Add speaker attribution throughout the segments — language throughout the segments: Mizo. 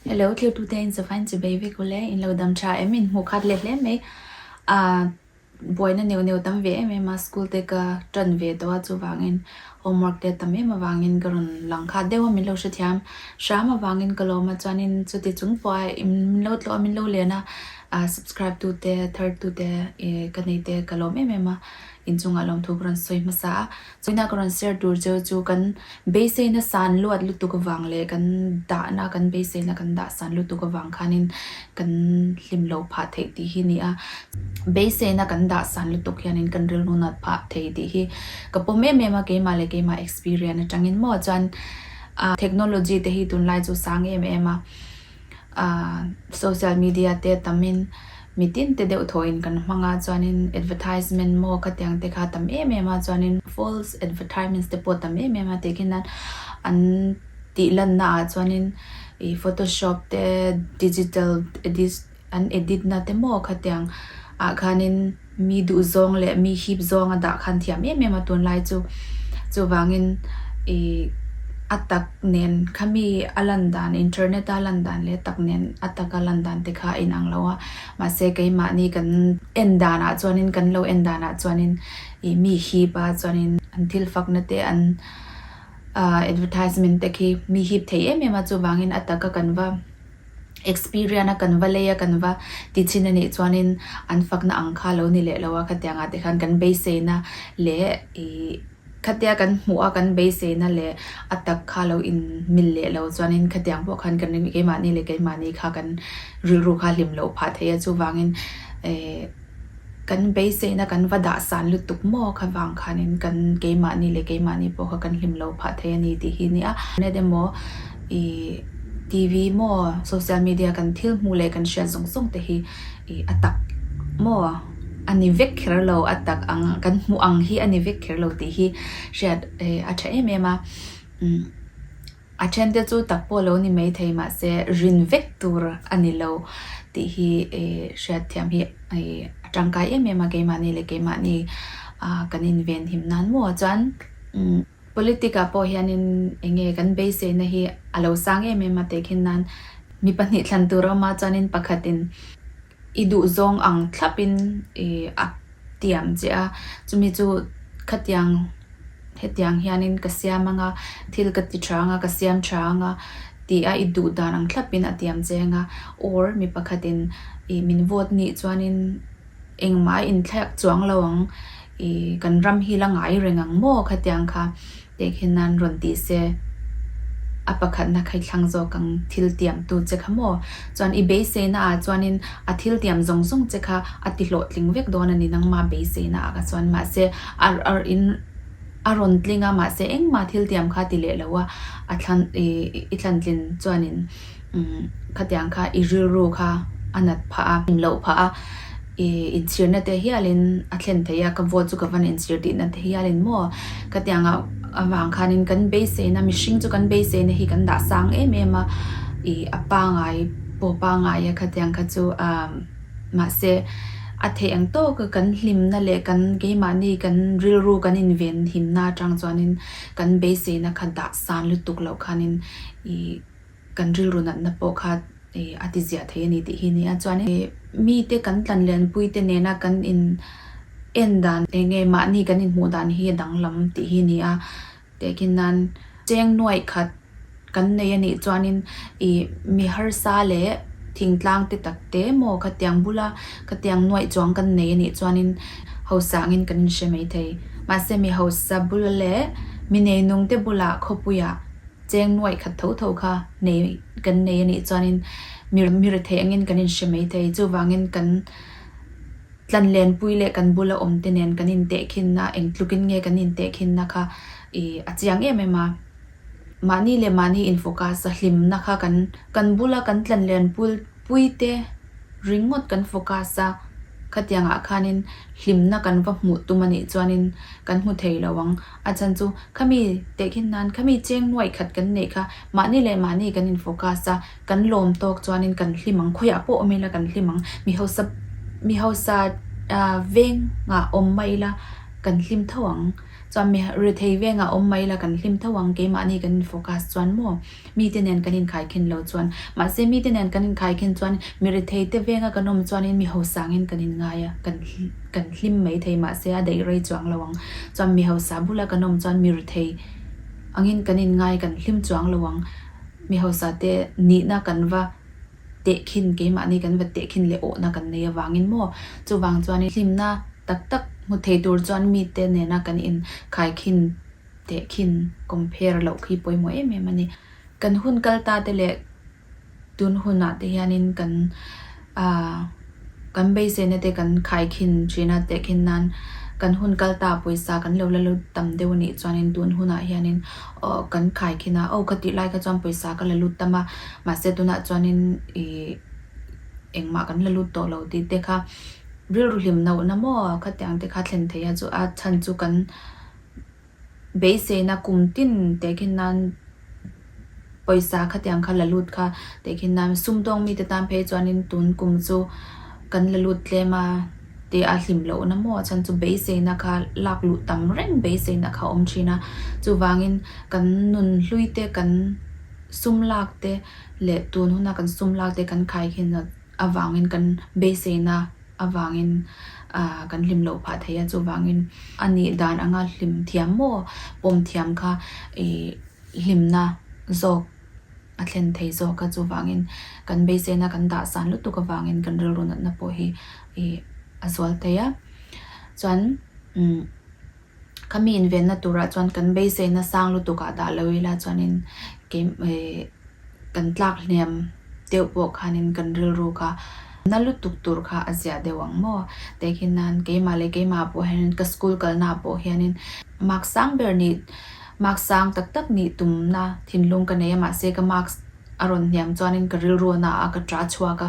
Speaker 1: Hello thirtute in sava in chibei vek ule in lo dam tha em in hmuh khat let hle mai ah buaina neu neu tam ve em em a school te ka tan ve tawh a chuvang in homework te tam em avang in ka rawn lang khat deuh a min lo hrethiam hram avang in ka lawm a chuan in chuti chung pawh a in min lo tlawh a min lo len a ah subscribe tu te thirtute e ka nei te ka lawm em em a in chungah lawmthu ka rawn sawi hmasa a. Tuna ka rawn share tur chu chu kan beiseina san luat lutuk avang leh kan dahna kan beiseina kan dah san lutuk avang khanin kan hlim lo phah theih tih hi ni a. Beiseina kan dah san lutuk hianin kan rilru nat phah thei tih hi ka pawm em em a, keimah leh keimah experience atangin maw chuan technology te hi tunlai chu sang em em a. social media te tam in mi tin te deuh thawh in kan hmang a chuan in advertisement maw ka tiang te kha tam em em a chuan in false advertisement te pawh tam em em a tih khinan an tih lan na ah chuan in ih photoshop te digital edit-- An edit na te maw kha tiang ah khanin mi duh zawng leh mi hip zawng a dah khan thiam em em a tunlai chu chuvangin i a tak nen kha mi a lan dan internet a lan dan leh tak nen a tak a lan dan te kha a inang lo a mahse keimahni kan en dan ah chuanin kan lo en dan ah chuanin i mi hip a chuanin an thil fak na te an advertisement te khi mi hip thei em em a chuvangin a taka kan va Experian a kan va lei a kan va ti chin a nih chuanin an fakna ang kha lo ni leh lo a khatianga te khan kan beiseina leh i khatia kan hmuh a kan beiseina leh a tak kha lo in mil leh lo chuanin khatiang pawh khan kan ring keimahni leh keimahni kha kan rilru kha hlim loh phah thei a chuvangin ehh. Kan beiseihna kan va dahsan lutuk maw kha vang khanin kan keimahni leh keimahni pawh kha kan hlim lo phah thei a ni tih hi a ni a. Net emaw ih TV maw social media kan thil hmuh leh kan hriat zawng zawng te hi ih a tak maw a ni vek kher lo a tak ang kan hmuh ang hi a ni vek kher lo tih hi hriat a tha em em a. A thente chu tak pawh lo ni mai thei mahse rin vek tur a ni lo tih hi hriatthiam hi a tangkai em em a keimahni leh keimahni kan inven him nan maw a chuan politic ah pawh hian in eng nge kan beisei na hi a lo sang em em a tehkhin nan mi pahnih thlan tur a awm a chuan in pakhat in I duhzawng ang thlapin a tiam che a, chumi chu khatiang hetiang hianin ka siam anga, thil ka ti tha anga, ka siam tha anga tih a i duh dan ang thlapin a tiam che anga or mi pakhatin i min vote ni chuanin engmah a inthlek chuang lo ang i kan ram hi la ngai reng ang maw khatiang kha Kei khi nan rawn tih se, a pakhatna kha i thlang zawk ang thiltiamtu che kha maw? Chuan i beiseina ah chuanin a thiltiam zawng zawng che kha a tihlawhtling vek dawn a ni nangma beiseina ah kha chuan. Mahse, a in a rawn tling a, mahse engmah thiltiam kha a ti leh lo a, a thlan i thlantlin chuanin. Khatiang kha i rilru kha a nat phah a, in loh phah a, i inchhirna te hialin a thlen thei a, ka vote chu ka van inchhir tihna te hialin maw? Khatianga avang khanin kan beiseina, mihring chu kan beiseina hi kan dahsang em em a, i a pangai pawh pangai a khatiang kha chu a, mahse a theih ang tawk a, kan hlimna leh kan keimahni kan rilru kan invenhimna atang chuanin kan beiseina kha dahsan lutuk loh khanin i. kan rilru natna pawh kha a ti ziah thei a ni tih hi a ni a. Chuan in mite kan tlanlianpui te nena kan in en dan eng nge mahni kan in hmuh dan hi a danglam tih hi a ni a. Tehkin nan cheng nuaih khat kan nei a nih chuan in i mi harsa leh thingtlang te tak te emaw khatiang bula khatiang nuaih chuang kan nei a nih chuan in hausang in kan in hre mai thei. Mahse mi hausa bul leh mi nei nung te bula khawpuiah. Cheng nuaih khat tho tho kha nei kan nei a nih chuanin mi re theih angin kan inhre mai thei. Chuvangin kan tlanlenpui leh kan bula awmte nen kan intehkhinna, eng tlukin nge kan intehkhinna kha i a chiang em em a. Mahni leh mahni infocus-a hlimna kha kan kan bula kan tlanlenpuipuite ringawt kan focus a, khatiangah khanin hlimna kan va hmuh tum a nih chuanin kan hmu thei lo ang. A chan chu, Khami tehkhin nan, khami cheng nuaih khat kan neih kha, mahni leh mahni kan in focus a, kan lawm tawk chuanin kan hlim ang, khawiah pawh awm ila kan hlim ang, mi hausa mi hausa vengah awm mah ila kan hlim tho ang, chuan mi rethei vengah awm mah ila kan hlim tho ang, keimahni kan in focus chuan maw. Mite nen kan inkhai khin lo chuan. Mahse mite nen kan inkhai khin chuan mirethei te venga kan awm chuan in miho sangin kan inngai a, kan kan hlim mai thei mahse a daih rei chuang lo ang. Chuan miho sa bula kan awm chuan mirethei angin kan inngai kan hlim chuang lo ang. Miho sa te nihna kan va teh khin keimahni kan va teh khin leh awhna kan nei avangin maw chuvang chuan in hlimna tak tak hmu thei tur chuan mite nena kan inkhai khin teh khin compare loh khi pawimawh em em a ni. Kan hun kal ta te leh tun hunah te hianin kan kan beiseina te kan khai khin tihna teh khin nan kan hun kal ta pawisa kan lo la lut tam deuh a nih chuanin tun hunah hianin kan khai khin a, aw ka tih lai kha chuan pawisa ka la lut tam a, mahse tunah chuanin ih engmah kan la lut tawh lo tih te kha rilru hlim no na maw khatiang te kha thlen theih a chu a chhan chu kan beiseina kum tin tehkhin nan pawisa khati ang kha la lut kha tehkhin nan sumdawng mite tan phei chuanin tun kum chu kan la lut tlem a tih a hlim loh na maw chhan chu beiseina kha lak luh tam reng beiseina kha awm thin a chuvangin kan nun hlui te kan sum lak te leh tun huna kan sum lak te kan khaikhinna avangin kan beiseina. avangin kan hlim loh phah thei a, chuvangin a nih dan anga hlim thiam maw pawm thiam kha i hlimna zawk a thlen thei zawk a, chuvangin kan beisena kan dahsan lutuk avangin kan rilru natna pawh hi i a zual phei a, chuan umm. Khami invenna turah chuan kan beiseina sang lutukah dah lo ila chuanin keimah kan tlak hliam deuh pawh khanin kan rilru kha na lutuk tur kha a ziah deuh ang maw? Tehkhin nan keimah leh keimah pawh hianin ka school kalnaah pawh hianin marks sang ber nih marks sang tak tak nih tumna thinlung ka neia mahse ka marks A rawn hniam chuanin ka rilruahna a ka ṭah chhuak a,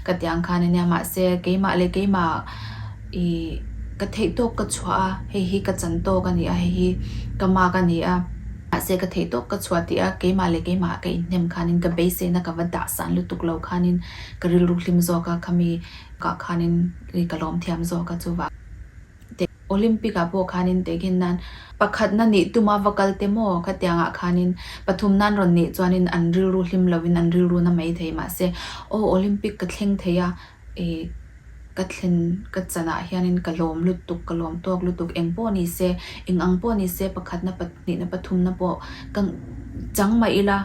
Speaker 1: ka tiang khan a nia. Mahse, keimah leh keimah i ka theihtawp ka chhuah a, hei hi ka chan tawk a ni a, hei hi ka mak a ni a. Mahse, ka theihtawp ka chhuah tih a, keimah leh keimah ka inhnem khanin ka beiseina ka va dahsan lutuk lo khanin ka rilru hlim zawk a, khami kah khanin ka lawmthiam zawk a chuvang. te. Olympic ah pawh khanin tehghin nan. Pakhat na nih tuma va kal te maw? Kha tiangah khanin pathum nan rawn nih chuanin an rilru hlim lovin an rilru na mai thei mahse aw Olympic ka thleng thei a ih ka thlen ka chanah hianin ka lawm lutuk ka lawm tawk lutuk eng pawh ni se eng ang pawh ni se pakhat na pahnihna pathum na pawh ka chang mah ila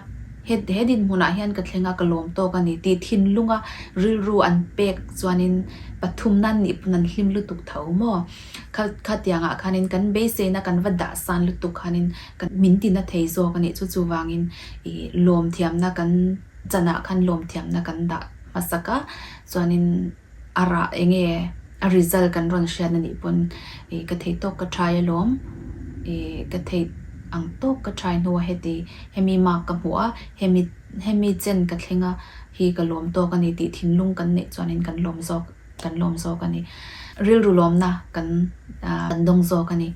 Speaker 1: Heti he dinhmunah hian ka thleng a, ka lawm tawk a ni tih thinlunga rilru an pek chuanin pathum nan nih pawn an hlim lutuk tho maw? Kha khatiangah khanin kan beiseina kan va dahsan lutuk khanin ka min tina thei zawk a ni. Chu chuvangin i lawmthiamna kan chanah khan lawmthiamna kan dah hmasak a, chuanin. A ra enge a result kan rawn hriat na nih pawn ih ka thei tawk ka try alawm ih ka thei ang tawk ka try hnu a heti hemi mark ka hmu a hemi hemi chen ka thleng a hi ka lawm tawk a ni tih thinlung kan neih chuan in kan lawm zawk kan lawm zawk a ni rilru lawmna kan dawng zawk a ni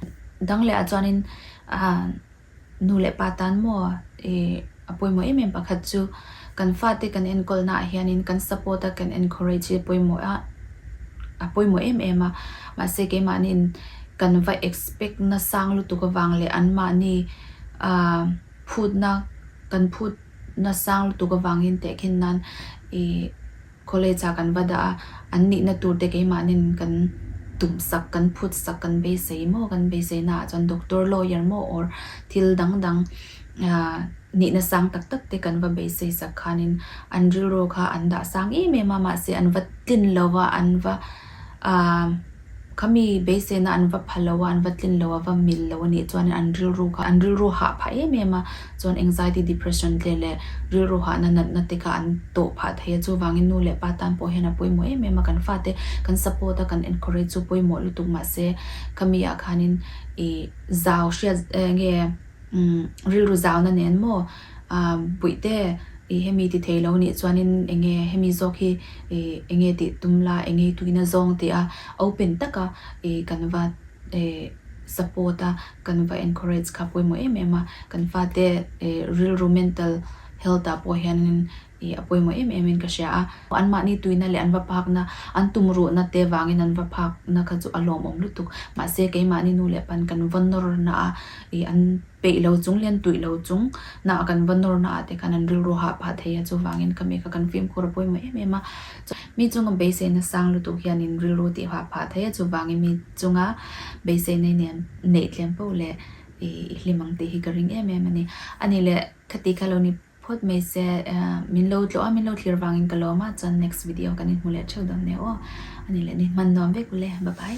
Speaker 1: dang leh ah chuan in a Nu leh pa tan maw i a pawimawh em em pakhat chu kan fate kan enkawl naah hianin kan support a kan encourage hi pawimawh a a pawimawh em em a mahse keimahniin kan va expect na sang lutuk avang leh anmahni a phutna kan phut na sang lutuk avangin tehkhin nan i College ah kan va dah a, an nihna tur te keimahnin kan tum sak, kan phut sak, kan beisei maw, kan beisei na ah chuan doctor, lawyer maw or thil dang dang nihna sang tak tak te kan va beisei sak khanin an rilru kha an dah sang em em a, mahse an va tlin lo va, an va. Aaa, khami beisena an va pha lo a, an va tlin lo, a va mil lo a nih chuan an rilru kha an rilru hah phah em em a, chuan anxiety, depression te leh rilru hahna natna te kha an tawh phah thei a, chuvangin nu leh pa tan pawh hian a pawimawh em em a, kan fate kan support a, kan encourage chu pawimawh lutuk mahse khamiah khanin ih zau hriat nge rilru zauna nen maw? Aaa, Buihte, ih hemi ti thei lo nih chuanin enge hemi zawk hi ih enge tih tum la, eng ngei tuin a zawng tih a open taka ih kan va ih support a, kan va encourage kha pawimawh em em a. Kan fate ih rilru mental health ah pawh hianin. hi a pawimawh em emin ka hria a. Anmahni tuina leh an va pakna, an tumruhna te vangin an va phakna kha chu a lawmawm lutuk. Mahse, keimahni nu leh pan kan vawn nawrna a, ih an peih lo chung, lian tuih lo chung na a kan va nawrna ah te khan an rilru hah phah thei a, chuvangin kami kha kan fimkhur a pawimawh em em a. Mi chunga beiseina sang lutuk hian in rilru tih hah phah thei a, chuvangin mi chunga beiseina in en neih tlem paoh leh ih i hlim ang tih hi ka ring em em a ni. Ani le, khati kha lo ni. Phawt mai se min lo tlawh a min lo thlir vangin ka lawm a chuan next video kan inhmu leh theuh dam nia aw ani le ni hman nuam vek ule bye bye.